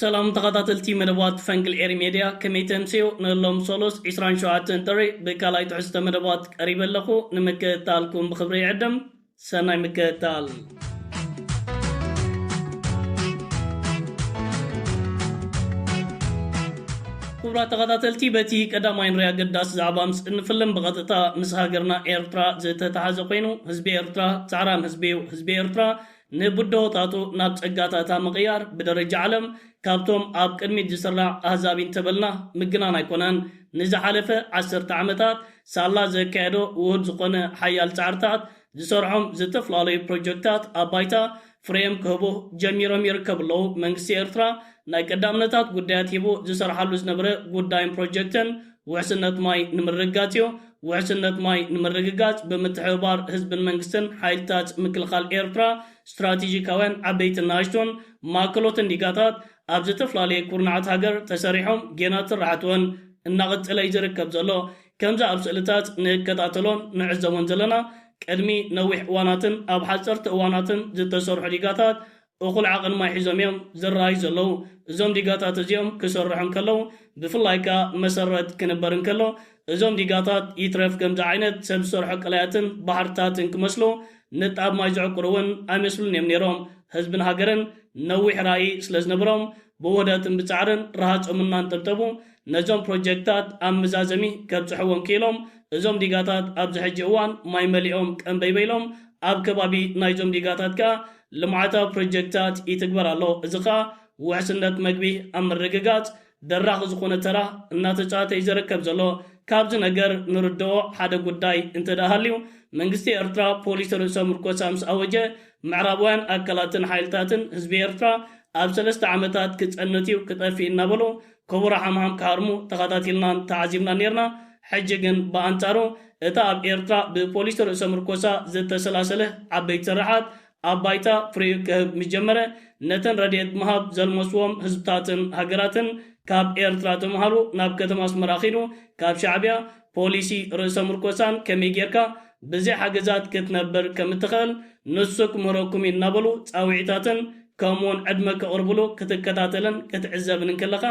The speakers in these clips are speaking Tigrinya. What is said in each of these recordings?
ሰላም ተኸታተልቲ መደባት ፈንቅል ኤሪ ሜድያ ከመይ ተምስዮ ንሎም ሶሉስ ዕስራን ሸውዓተን ጥሪ ብካልኣይ ትሕዝቶ መደባት ቀሪበ ኣለኹ ንምክእታልኩም ብኽብሪ ይዕድም ሰናይ ምክእታል። ክቡራት ተኸታተልቲ በቲ ቀዳማይ ንሪኣ ኣገዳሲ ዛዕባ ምስ እንፍልም ብቐጥታ ምስ ሃገርና ኤርትራ ዝተታሓዘ ኮይኑ ህዝቢ ኤርትራ ጻዕራም ህዝቢ እዩ ህዝቢ ኤርትራ ንብደሆታቱ ናብ ጸጋታታ ምቕያር ብደረጃ ዓለም ካብቶም ኣብ ቅድሚት ዝስራዕ ኣህዛቢ እንተበልና ምግናን ኣይኮነን። ንዝሓለፈ ዓሰርተ ዓመታት ሳላ ዘካየዶ ውሁድ ዝኾነ ሓያል ጻዕርታት ዝሰርዖም ዝተፈላለዩ ፕሮጀክታት ኣብ ባይታ ፍሬኦም ክህቡ ጀሚሮም ይርከቡ ኣለዉ። መንግስቲ ኤርትራ ናይ ቀዳምነታት ጉዳያት ሂቡ ዝሰርሓሉ ዝነበረ ጉዳይን ፕሮጀክትን ውሕስነት ማይ ንምርግጋፅ እዩ። ውሕስነት ማይ ንምርግጋፅ ብምትሕብባር ህዝብን መንግስትን ሓይልታት ምክልኻል ኤርትራ ስትራቴጂካውያን ዓበይትን ንኣሽቱን ማእከሎትን ዲጋታት ኣብ ዘተፍላለየ ኩርናዓት ሃገር ተሰሪሖም ጌና ትራሕት እውን እናቐፀለ እዩ ዝርከብ ዘሎ። ከምዚ ኣብ ስእልታት ንከታተሎን ንዕዘቦን ዘለና ቅድሚ ነዊሕ እዋናትን ኣብ ሓፀርቲ እዋናትን ዝተሰርሑ ዲጋታት እኹል ዓቕን ማይ ሒዞም እዮም ዝረኣዩ ዘለዉ። እዞም ዲጋታት እዚኦም ክስርሑ እንከለዉ ብፍላይ ከኣ መሰረት ክንበር እንከሎ እዞም ዲጋታት ይትረፍ ከምዚ ዓይነት ሰብ ዝሰርሖ ቀላያትን ባሕርታትን ክመስሉ ንጣብ ማይ ዝዕቁሩ እውን ኣይመስሉን እዮም ነይሮም። ህዝብን ሃገርን ነዊሕ ራኢ ስለ ዝነበሮም ብውህደትን ብጻዕርን ረሃጾም እናንጠብጠቡ ነዞም ፕሮጀክትታት ኣብ ምዛዘሚ ከብጽሕዎም ክኢሎም። እዞም ዲጋታት ኣብዚ ሕጂ እዋን ማይ መሊኦም ቀምበይ በይሎም። ኣብ ከባቢ ናይዞም ዲጋታት ከኣ ልምዓታዊ ፕሮጀክትታት ይትግበር ኣሎ። እዚ ከኣ ውሕስነት መግቢ ኣብ ምርግጋጽ ደራኺ ዝኾነ ተራ እናተጻወተ እዩ ዝርከብ ዘሎ። ካብዚ ነገር ንርድኦ ሓደ ጉዳይ እንተድኣ ሃልዩ መንግስቲ ኤርትራ ፖሊሲ ርእሰ ምርኮሳ ምስ ኣወጀ ምዕራባውያን ኣካላትን ሓይልታትን ህዝቢ ኤርትራ ኣብ ሰለስተ ዓመታት ክጸንት እዩ ክጠፍእ እዩ እናበሉ ክቡር ሓምሓም ክሃርሙ ተኻታቲልናን ተዓዚብናን ኔርና፣ ሕጂ ግን ብኣንጻሩ እታ ኣብ ኤርትራ ብፖሊሲ ርእሰ-ምርኮሳ ዝተሰላሰለ ዓበይቲ ስርሓት ኣብ ባይታ ፍሬኡ ክህብ ምስ ጀመረ ነተን ረድኤት ምሃብ ዘልመሱዎም ህዝብታትን ሃገራትን ካብ ኤርትራ ተማሃሩ ናብ ከተማ ኣስመራ ኪዱ ካብ ሻዕብያ ፖሊሲ ርእሰ ምርኮሳን ከመይ ጌርካ ብዘይ ሓገዛት ክትነብር ከም እትኸእል ንሱ ክምህረኩም እዩ እናበሉ ጻውዒታትን ከምኡውን ዕድመ ከቕርቡሉ ክትከታተልን ክትዕዘብን እንክለኻ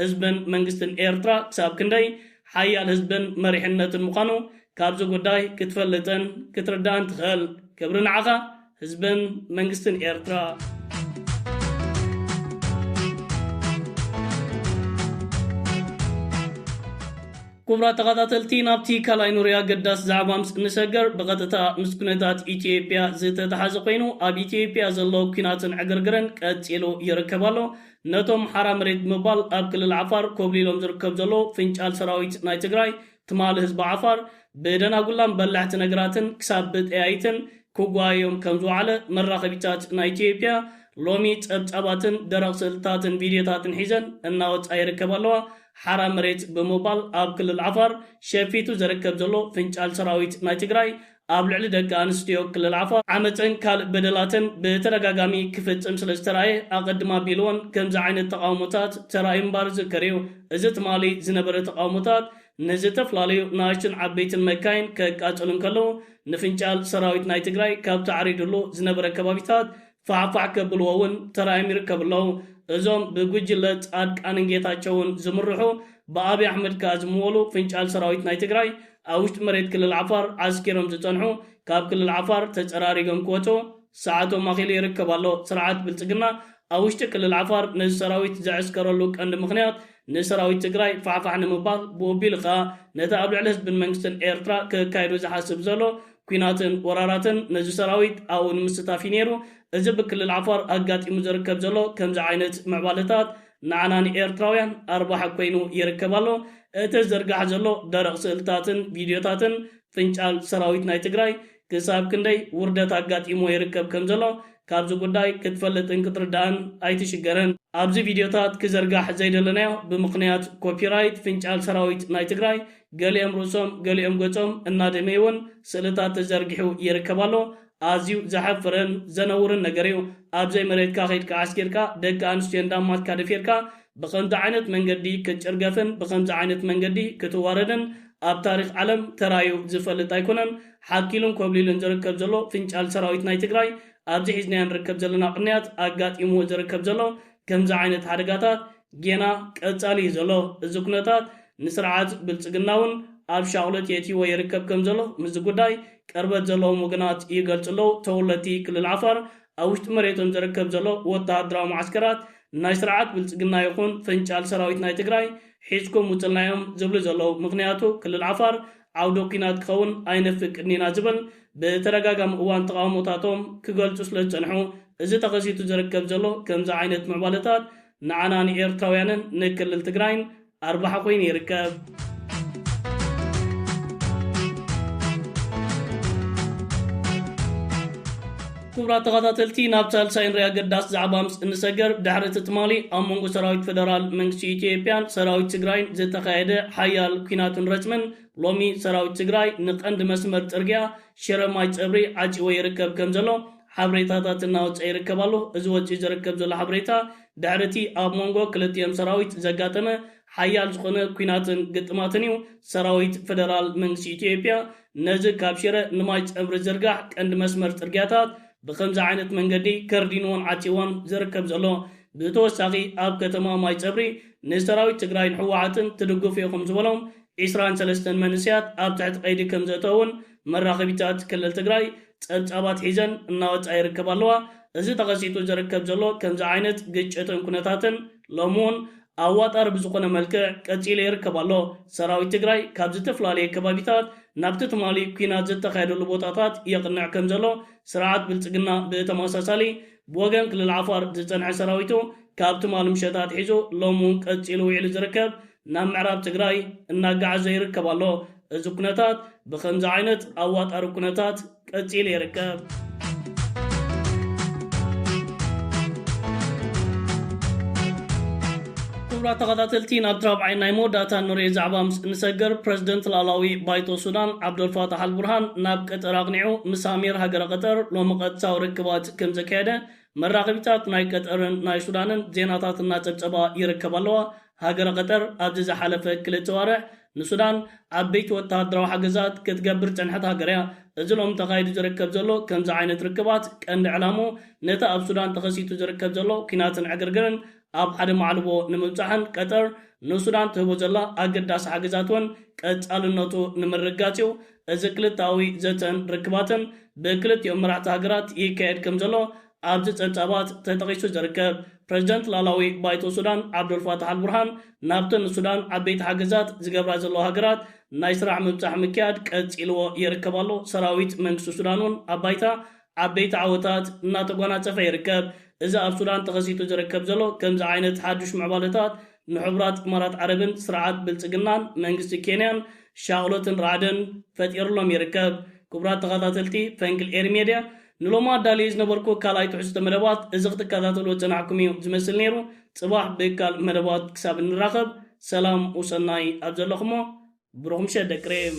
ህዝብን መንግስትን ኤርትራ ክሳብ ክንደይ ሓያል ህዝብን መሪሕነትን ምዃኑ ካብዚ ጉዳይ ክትፈልጥን ክትርዳእን ትኸእል። ክብሪ ንዓኻ! ህዝብን መንግስትን ኤርትራ ኩቡራት ተኸታተልቲ ናብቲ ካልኣይ ኑሪ ኣገዳሲ ዛዕባ ምስ እንሰገር ብቐጥታ ምስ ኩነታት ኢትዮጵያ ዝተተሓዘ ኮይኑ ኣብ ኢትዮጵያ ዘሎ ኩናትን ዕግርግርን ቀፂሉ ይርከብ ኣሎ ነቶም ሓራ መሬት ብምባል ኣብ ክልል ዓፋር ኮብሊሎም ዝርከብ ዘሎ ፍንጫል ሰራዊት ናይ ትግራይ ትማል ህዝቢ ዓፋር ብደናጉላን በላሕቲ ነግራትን ክሳብ ብጠያይትን ክጓየዮም ከም ዝወዓለ መራኸቢታት ናይ ኢትዮጵያ ሎሚ ጸብጻባትን ደረቕ ስእልታትን ቪድዮታትን ሒዘን እናወጽኣ ይርከባ ኣለዋ። ሓራ መሬት ብምባል ኣብ ክልል ዓፋር ሸፊቱ ዝርከብ ዘሎ ፍንጫል ሰራዊት ናይ ትግራይ ኣብ ልዕሊ ደቂ ኣንስትዮ ክልል ዓፋር ዓመጽን ካልእ በደላትን ብተደጋጋሚ ክፍጽም ስለ ዝተራእየ ኣቐድም ኣቢሉ'ውን ከምዚ ዓይነት ተቓውሞታት ተራእዩ ምንባሩ ዝዝከር'ዩ። እዚ ትማሊ ዝነበረ ተቓውሞታት ንዝተፍላለዩ ናእሽቱን ዓበይትን መካይን ከቃጽሉ እንከለዉ፣ ንፍንጫል ሰራዊት ናይ ትግራይ ካብቲ ዓሪዱሉ ዝነበረ ከባቢታት ፋዕፋዕ ከብልዎ እውን ተራእዮም ይርከቡ ኣለው። እዞም ብጉጅለ ፃድቃንን ጌታቸውን ዝምርሑ ብኣብይ ኣሕመድ ከዓ ዝምወሉ ፍንጫል ሰራዊት ናይ ትግራይ ኣብ ውሽጢ መሬት ክልል ዓፋር ዓስኪሮም ዝፀንሑ ካብ ክልል ዓፋር ተፀራሪጎም ክወፁ ሰዓቶም ኣኺሉ ይርከብ ኣሎ። ስርዓት ብልፅግና ኣብ ውሽጢ ክልል ዓፋር ነዚ ሰራዊት ዘዐስከረሉ ቀንዲ ምኽንያት ንሰራዊት ትግራይ ፋሕፋሕ ንምባል ብኡቢሉ ከዓ ነቲ ኣብ ልዕሊ ህዝብን መንግስትን ኤርትራ ከካይዶ ዝሓስብ ዘሎ ኲናትን ወራራትን ነዚ ሰራዊት ኣብኡ ንምስታፍ እዩ ነይሩ። እዚ ብክልል ዓፋር ኣጋጢሙ ዝርከብ ዘሎ ከምዚ ዓይነት ምዕባለታት ንዓና ንኤርትራውያን ኣርባሒ ኮይኑ ይርከብ ኣሎ። እቲ ዝዝርጋሕ ዘሎ ደረቕ ስእልታትን ቪድዮታትን ፍንጫል ሰራዊት ናይ ትግራይ ክሳብ ክንደይ ውርደት ኣጋጢምዎ ይርከብ ከም ዘሎ ካብዚ ጉዳይ ክትፈልጥን ክትርዳእን ኣይትሽገርን። ኣብዚ ቪድዮታት ክዘርጋሕ ዘይደለናዮ ብምኽንያት ኮፒራይት ፍንጫል ሰራዊት ናይ ትግራይ ገሊኦም ርእሶም ገሊኦም ገጾም እናደመዩ'ውን ስእልታት ተዘርጊሑ ይርከብ ኣሎ። ኣዝዩ ዘሕፍርን ዘነውርን ነገር'ዩ። ኣብ ዘይመሬትካ ኬድካ ዓስኪርካ ደቂ ኣንስትዮ እንዳ ኣማትካ ደፊርካ ብኸምዚ ዓይነት መንገዲ ክትጭርገፍን ብኸምዚ ዓይነት መንገዲ ክትዋረድን ኣብ ታሪኽ ዓለም ተራእዩ ዝፈልጥ ኣይኮነን። ሓኪሉን ኮብሊሉን ዝርከብ ዘሎ ፍንጫል ሰራዊት ናይ ትግራይ ኣብዚ ሒዝናዮ ንርከብ ዘለና ቅንያት ኣጋጢምዎ ዝርከብ ዘሎ ከምዚ ዓይነት ሓደጋታት ጌና ቀጻሊ እዩ ዘሎ። እዚ ኩነታት ንስርዓት ብልጽግና'ውን ኣብ ሻቕሎት የእትይዎ ይርከብ ከምዘሎ ምስዚ ጉዳይ ቅርበት ዘለዎም ወገናት ይገልጹ ኣለዉ። ተወለድቲ ክልል ዓፋር ኣብ ውሽጢ መሬቶም ዝርከብ ዘሎ ወተሃደራዊ መዓስከራት ናይ ስርዓት ብልጽግና ይኹን ፍንጫል ሰራዊት ናይ ትግራይ ሒዝኩም ውጹልና'ዮም ዝብሉ ዘለዉ። ምኽንያቱ ክልል ዓፋር ዓውደ ኲናት ክኸውን ኣይነፍቅድን ኢና ዝብል ብተደጋጋሚ እዋን ተቓውሞታቶም ክገልጹ ስለዝጸንሑ እዚ ተኸሲቱ ዝርከብ ዘሎ ከምዚ ዓይነት ምዕባለታት ንዓና ንኤርትራውያንን ንክልል ትግራይን ኣርባሓ ኮይኑ ይርከብ። ክቡራት ተኸታተልቲ ናብ ሳልሳይን ሪያ ገዳስ ዛዕባ ምስ እንሰገር ድሕሪ እቲ ትማሊ ኣብ መንጎ ሰራዊት ፈደራል መንግስቲ ኢትዮጵያን ሰራዊት ትግራይን ዝተኻየደ ሓያል ኩናትን ረጽምን ሎሚ ሰራዊት ትግራይ ንቀንዲ መስመር ጽርግያ ሽረ ማይ ጸብሪ ዓጺዎ ይርከብ ከም ዘሎ ሓብሬታታት እናወፀ ይርከብ ኣሎ። እዚ ወፂኡ ዝርከብ ዘሎ ሓብሬታ ድሕሪ እቲ ኣብ ሞንጎ ክልቲኦም ሰራዊት ዘጋጠመ ሓያል ዝኾነ ኩናትን ግጥማትን እዩ። ሰራዊት ፌደራል መንግስቲ ኢትዮጵያ ነዚ ካብ ሽረ ንማይ ፀብሪ ዝርጋሕ ቀንዲ መስመር ፅርግያታት ብኸምዚ ዓይነት መንገዲ ከርዲኑዎን ዓፅይዎን ዝርከብ ዘሎ። ብተወሳኺ ኣብ ከተማ ማይ ፀብሪ ንሰራዊት ትግራይን ህወሓትን ትድግፉ ኢኹም ዝበሎም ዒስራን ሰለስተን መንእሰያት ኣብ ትሕቲ ቀይዲ ከምዘእተወ እውን መራኸቢታት ክልል ትግራይ ፀብፃባት ሒዘን እናወፃ ይርከባ ኣለዋ። እዚ ተኸሲቱ ዝርከብ ዘሎ ከምዚ ዓይነት ግጭትን ኩነታትን ሎሚ እውን ኣዋጣሪ ብዝኾነ መልክዕ ቀፂሉ ይርከብ ኣሎ። ሰራዊት ትግራይ ካብ ዝተፈላለየ ከባቢታት ናብቲ ትማሊ ኲናት ዝተኻየደሉ ቦታታት የቕንዕ ከምዘሎ ስርዓት ብልፅግና ብተመሳሳሊ ብወገን ክልል ዓፋር ዝፀንሐ ሰራዊቱ ካብ ትማሊ ምሸት ኣትሒዙ ሎሚ እውን ቀፂሉ ውዒሉ ዝርከብ ናብ ምዕራብ ትግራይ እናጋዓዘ ይርከብ ኣሎ። እዚ ኩነታት ብኸምዚ ዓይነት ኣዋጣሪ ኩነታት ቀፂሉ ይርከብ። ክቡራት ተኸታተልቲ ናብቲ ራብዓይን ናይ መወዳእታን ንሪኦ ዛዕባ ምስ እንሰግር ፕረዚደንት ላእላዊ ባይቶ ሱዳን ዓብደልፋታሕ ኣልቡርሃን ናብ ቀጠር ኣቕኒዑ ምስ ኣሚር ሃገረ ቀጠር ሎሚ ቀጥታዊ ርክባት ከምዘካየደ መራኸቢታት ናይ ቀጠርን ናይ ሱዳንን ዜናታት እናፀብፀባ ይርከባ ኣለዋ። ሃገረ ቐጠር ኣብዚ ዝሓለፈ ክልተ ኣዋርሕ ንሱዳን ዓበይቲ ወተሃደራዊ ሓገዛት ክትገብር ዝጸንሐት ሃገር እያ። እዚ ሎሚ ተኻይዱ ዝርከብ ዘሎ ከምዚ ዓይነት ርክባት ቀንዲ ዕላምኡ ነቲ ኣብ ሱዳን ተኸሲቱ ዝርከብ ዘሎ ኲናትን ዕግርግርን ኣብ ሓደ ማዕልቦ ንምብጻሕን ቀጠር ንሱዳን ትህቦ ዘላ ኣገዳሲ ሓገዛት እውን ቀጻልነቱ ንምርግጋጽ እዩ። እዚ ክልተኣዊ ዘተን ርክባትን ብክልቲኦም መራሕቲ ሃገራት ይካየድ ከምዘሎ ኣብዚ ጸብጻባት ተጠቒሱ ዝርከብ፣ ፕረዚደንት ላእላዊ ባይቶ ሱዳን ዓብደልፋታሕ ኣልቡርሃን ናብተን ንሱዳን ዓበይቲ ሓገዛት ዝገብራ ዘለዋ ሃገራት ናይ ስራሕ ምብጻሕ ምክያድ ቀጺልዎ ይርከብ ኣሎ። ሰራዊት መንግስቲ ሱዳን'ውን ኣብ ባይታ ዓበይቲ ዓወታት እናተጓናጸፈ ይርከብ። እዚ ኣብ ሱዳን ተኸሲቱ ዝርከብ ዘሎ ከምዚ ዓይነት ሓድሽ ምዕባለታት ንሕቡራት ኢማራት ዓረብን ስርዓት ብልጽግናን መንግስቲ ኬንያን ሻቕሎትን ራዕድን ፈጢርሎም ይርከብ። ክቡራት ተኸታተልቲ ፈንቅል ኤሪ ሜድያ፣ ንሎሚ ኣዳልየዮ ዝነበርኩ ካልኣይ ትሕዝቶ መደባት እዚ ክትከታተልዎ ዝጸናሕኩም እዩ ዝመስል ነይሩ። ጽባሕ ብካልእ መደባት ክሳብ እንራኸብ ሰላም ውሰናይ ኣብ ዘለኹሞ ብሩኽ ምሸት ደቂ ሬም።